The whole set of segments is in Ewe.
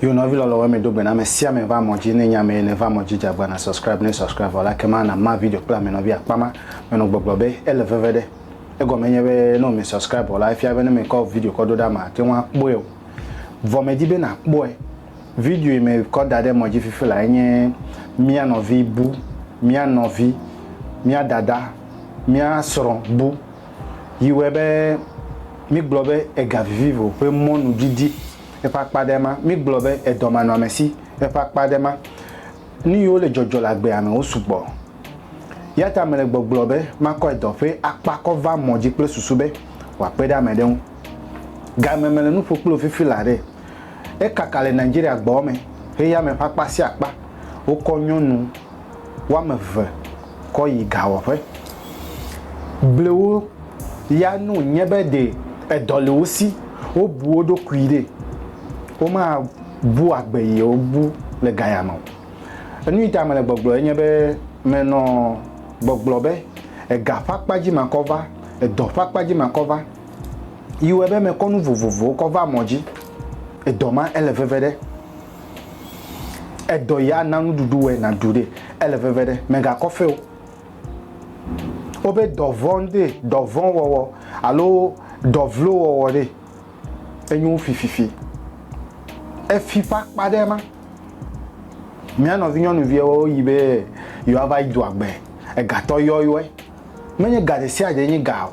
Yo nɔvi lɔlɔ wɛ mi do gbe na me sia me va mɔ ji ne nya me ne va mɔ ji jagba na subscribe ne subscribe vɔ la kema na ma video kple ame nɔvi akpa ma me nɔ gbɔgblɔ be ele veve ɖe egɔ me nye be ne mi subscribe vɔ la efia be ne me kɔ video kɔ do ɖa ma te ŋua kpɔe o vɔ me di be na kpɔe video yi me kɔ da ɖe mɔ ji fifi la enye mia nɔvi bu mia nɔvi mia dada mia srɔ bu yi wɛ be mi gblɔ be ega vivivo ƒe mɔnu didi Eƒe akpa aɖe ma, mígblɔ be edɔmanɔamesi. Eƒe akpa aɖe ma, nu yiwo le dzɔdzɔ le agbea me wosu gbɔ. Eya ta mele gbɔgblɔ be makɔ edɔ ƒe akpa kɔ va mɔ dzi kple susu be wòakpe ɖe ame aɖe ŋu. Game mele nu ƒo kple wò fifi laa ɖe, ekaka le Nigeria gbɔwɔ me heya me ƒe akpa sia akpa wokɔ nyɔnu. woame eve kɔ yi gawɔƒe. Blewo ya no nye be ɖe edɔ le wo si, wobu wo ɖokui ɖe, womabu agbe yi wo bu le gaya me o. Enu yi ta mele gbɔgblɔ enye be menɔ gbɔgblɔ be ega ƒe akpa dzi makɔ va, edɔ ƒe akpa dzi makɔ va, yi wɔe be mekɔ nu vovovowo kɔ va mɔ dzi, edɔ ma ele veve ɖe. Edɔ ya na nuɖuɖu wɔe nàɖu ɖe, ele veve ɖe, mègakɔ fe o. Wobe dɔ vɔ̃ ŋdee, dɔ vɔ̃ wɔwɔ alo dɔ vlo wɔwɔ ɖe, enyo fififi. Efi ƒe akpa ɖe ma. Mía nɔvinyɔnuviawo yi be yewoava yi doa gbe, egatɔ yɔyɔe. Menye ga ɖe sia ɖee nye ga o.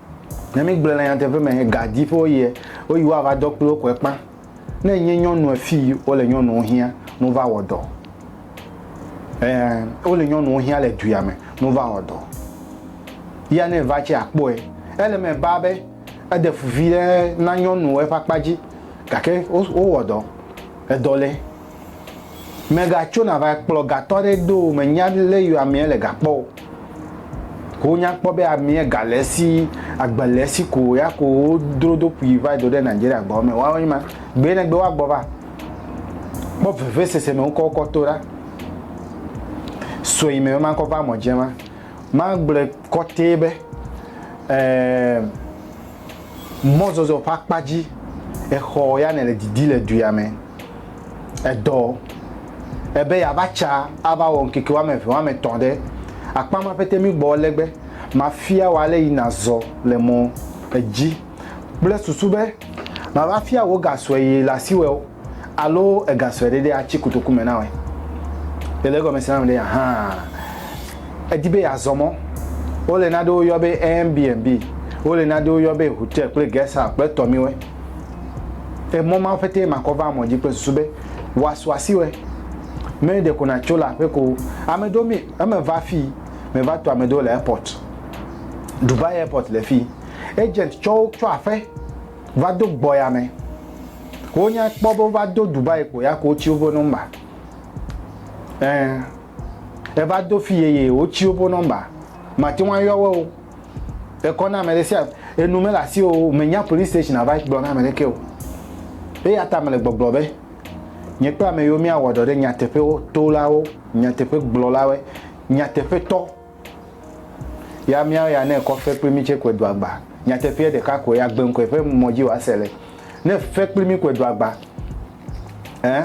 Ne mígblɔe le nyateƒe me gadi ƒe woyie, woyi woava dɔ kpli wo koe kpã. Ne enye nyɔnu efii wole nyɔnuwo hiã ne wova wɔ dɔ. Ɛ̃, wole nyɔnuwo hiã le duya me ne wova wɔ dɔ. Ya ne eva tse akpɔe. Ele eme baa be eɖe fu viɖe na nyɔnuwo eƒe akpa dzi gake wowɔ dɔ. Edɔ le. Mègatso nava kplɔ gatɔ aɖe do o, mènya lé yɔ amea le ga kpɔ o. Wonya kpɔ be amea ga le esi, agbe le esi ko ya ko wodro do ƒui va do ɖe Nigeria gbawo me. Woawo nye ma. Gbee negbe woagbɔ va. Kpɔ vevesese me wokɔ wokɔ to ɖa. Sue yi me be makɔ va mɔ dze ma. Magblɔe kɔtee be, ɛɛ, Mɔzɔzɔ ƒe akpa dzi, exɔ ya nèle didi le dua me. Edɔ ebe yeava tsa ava wɔ ŋkeke woame eve, woame etɔ̃ ɖe akpa ma ƒete mí gbɔ legbe. Mafia wò ale yi nàzɔ le mɔ dzi kple susu be mava fia wò ga sue yi le asiwò. Alo egasɔe ɖe ɖe atsi kotoku me nawɔe. Le le egɔme srã me ɖe hã, edi be yeazɔ mɔ. Wole naɖewo yɔ be Airbnb, wole naɖewo yɔ be hotel kple guest house kple tɔmiwɔe. Emɔ mawo ƒetee makɔ va mɔ dzi kple susu be woasu asi wɔe. Me ɖe ko natso le aƒe ko. Ame ɖewo mi eme va fii, me va to ame ɖewo le airport. Dubai airport le fii. Agent tsɔ wo tsɔ aƒe. va do gbɔya me wo nya kpɔ be wova do Dubai ko ya ko wotsi woƒe nɔmba ɛ eva do fi yeye wotsi woƒe nɔmba mate ŋu ayɔ wo o ekɔ na ame ɖe sia enu mele asi o menya police station ava gblɔ na ame ɖeke o eya ta mele gbɔgblɔ be nye kple ame yiwo míawɔ dɔ ɖe nyateƒewo tolawo nyateƒe gblɔlawo nyateƒetɔ Ya míawo ya ne ekɔ fe kpli mí tsɛ kɔe do agba. Nyateƒeɛ ɖeka koe agbe ŋkɔe ƒe mɔ dzi wòase le. Ne fe kpli mí kɔe do agba ɛ,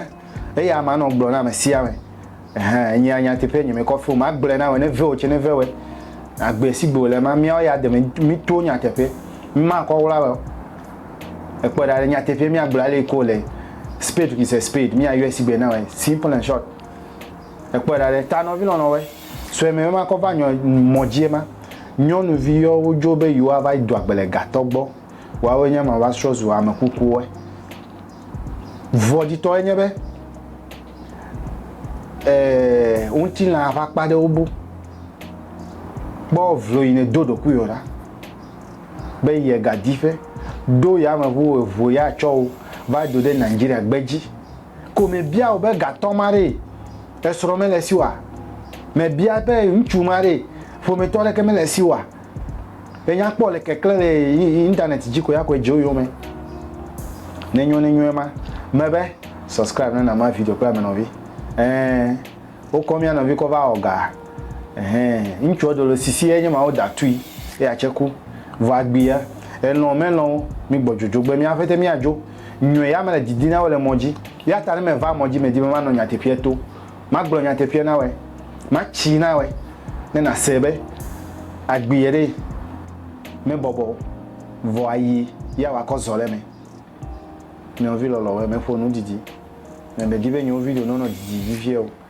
eya ma nɔ gblɔ na ame sia ame, ɛhɛ, enyea nyateƒeɛ nye mekɔ fe o, magblɔe na wɔ ne ve wò tsɛ ne ve wɛ. Agbe sigbe wòle ma, míawo ya de me míto nyateƒeɛ. Mímakɔ wla wɛ o. Èkpɔɛ ɖa le nyateƒeɛ míagblɔ ale yi ke wòle, spade is a spade, míayɔɛ sigbe na wɔ, simple and short. Ekpɔe ɖa ɖe, ta nɔvi lɔlɔ̃wɔe sue mɛ mema kɔ va nyɔ mɔ dzie ma, nyɔnuvi yɔ wo dzo be yewoa va yi do agbe le gatɔ gbɔ, woawoe nye ma va srɔ zu ame kukuwɔe. Vɔ dzitɔ enye be, e, ŋutilã ƒe akpa ɖewo bo. Kpɔ vlo yi ne do ɖokuiwɔ ɖa be ye ga di ƒe, ɖo yameʋu eʋu ya tsɔ wo va do ɖe Nigeria gbe dzi. ko mebia wò be gatɔ ma ɖee, esrɔ̃ mele esi oa? Mebia be ŋutsu ma ɖee, ƒometɔ aɖeke mele esi oa? Ènya kpɔ wòle keklẽ le internet dzi ko ya ko edze wo yome. Nenyo nenyo ema. Mebe subscribe na Nama video kple ame nɔvi. Ɛɛ, wokɔ mía nɔvi kɔ va wɔ ga. Ɛhɛ, ŋutsua do le sisi enye ma wo da tui eya tse ku. Vɔ agbia, elɔ̃ melɔ̃, mígbɔ dzodzogbe mía ƒete míadzo. Nyɔe ya mele didi na wo le mɔ dzi. Eya ta ne meva mɔ dzi, medi be manɔ nyateƒea to. Magblɔ nyateƒea na wɔe. Matsii na wɔe, ne nàsee be agbiɛ ɖee mebɔbɔ o, vɔ ayi ya wòakɔ zɔ ɖe eme. Nɔvi lɔlɔ̃, wɔ emeƒo nu didi. Nyemedi be nye wo video nɔnɔ didi vivie o.